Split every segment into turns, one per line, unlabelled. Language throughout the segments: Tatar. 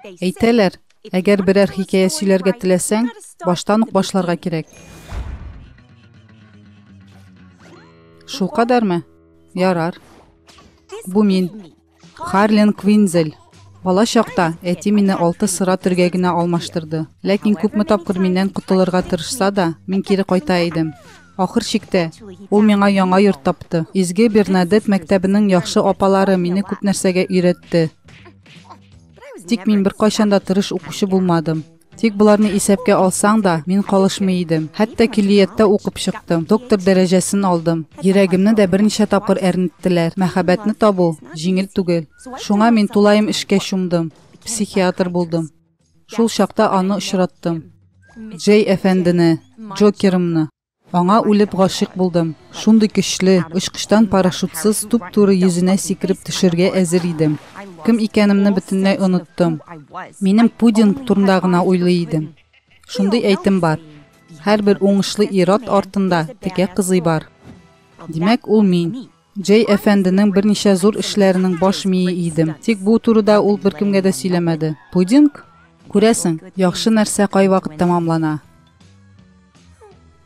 Әйтәләр, әгәр берәр хикәя сөйләргә теләсәң, баштан ук башларга кирәк. Шул кадәрме? Ярар. Бу мин. Харлин Квинзель. Бала чакта әти мине алты сыра төргәгенә алмаштырды. Ләкин күпме тапкыр миннән котылырга тырышса да, мин кире кайта идем. Ахыр чиктә, ул миңа яңа йорт тапты. Изге Бернадетт мәктәбенең яхшы апалары мине күп нәрсәгә өйрәтте. Тик мин беркайчан да тырыш укучы булмадым. Тик боларны исәпкә алсаң да, мин калышмый идем. Хәтта киллияттә укып чыктым, доктор дәрәҗәсен алдым. Йөрәгемне дә берничә тапкыр әрнеттеләр. Мәхәббәтне табу, җиңел түгел. Шуңа мин тулаем эшкә чумдым, психиатр булдым. Шул чакта аны очраттым. Джей әфәндене, Джокерымны. Аңа үлеп гашыйк булдым. Шундый көчле, очкычтан парашютсыз туп-туры йөзенә сикереп төшергә әзер идем. Кем икәнемне бөтенләй оныттым. Минем пудинг турында гына уйлый идем. Шундый әйтем бар. Һәрбер уңышлы ир-ат артында текә кызый бар. Димәк, ул мин. Җәй әфәнденең берничә зур эшләренең баш мие идем. Тик бу турыда ул беркемгә дә сөйләмәде. Пудинг? Күрәсең, яхшы нәрсә кайвакыт тәмамлана.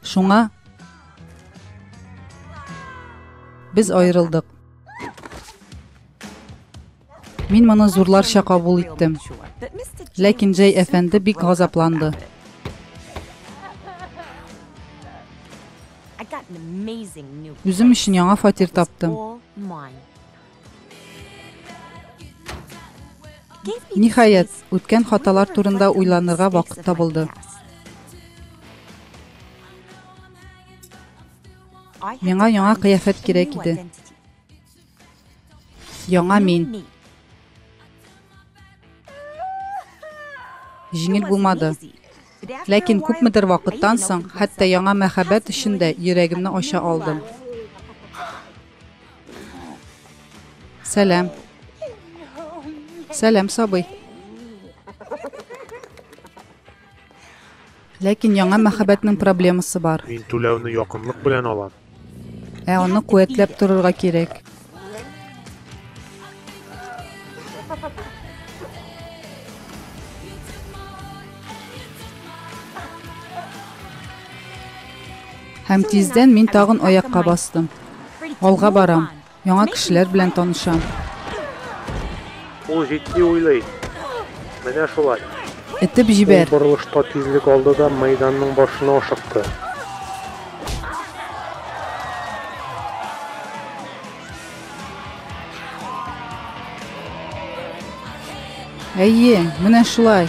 Шуңа без аерылдык. Мин моны зурларча кабул иттем. Ләкин Джей әфәнде бик газапланды. Үзем өчен яңа фатир таптым. Ниһаять, үткән хаталар турында уйланырга вакыт табылды. Миңа яңа кыяфәт кирәк иде. Яңа мин. Җиңел булмады. Ләкин күпмедер вакыттан соң, хәтта яңа мәхәббәт өчен дә йөрәгемне ача алдым. Сәлам. Сәлам, сабый. Ләкин яңа мәхәббәтнең проблемасы бар. Мин түләүне якынлык
белән алам. Ә аны
куәтләп торырга кирәк. Һәм тиздән мин тагын аякка бастым. Алга барам. Яңа кешеләр белән танышам.
Ул җитди уйлый. Менә шулай. Этеп җибәр.
Ул борылышта тизлек
алды да мәйданның башына ашыкты.
Әйе, менә шулай.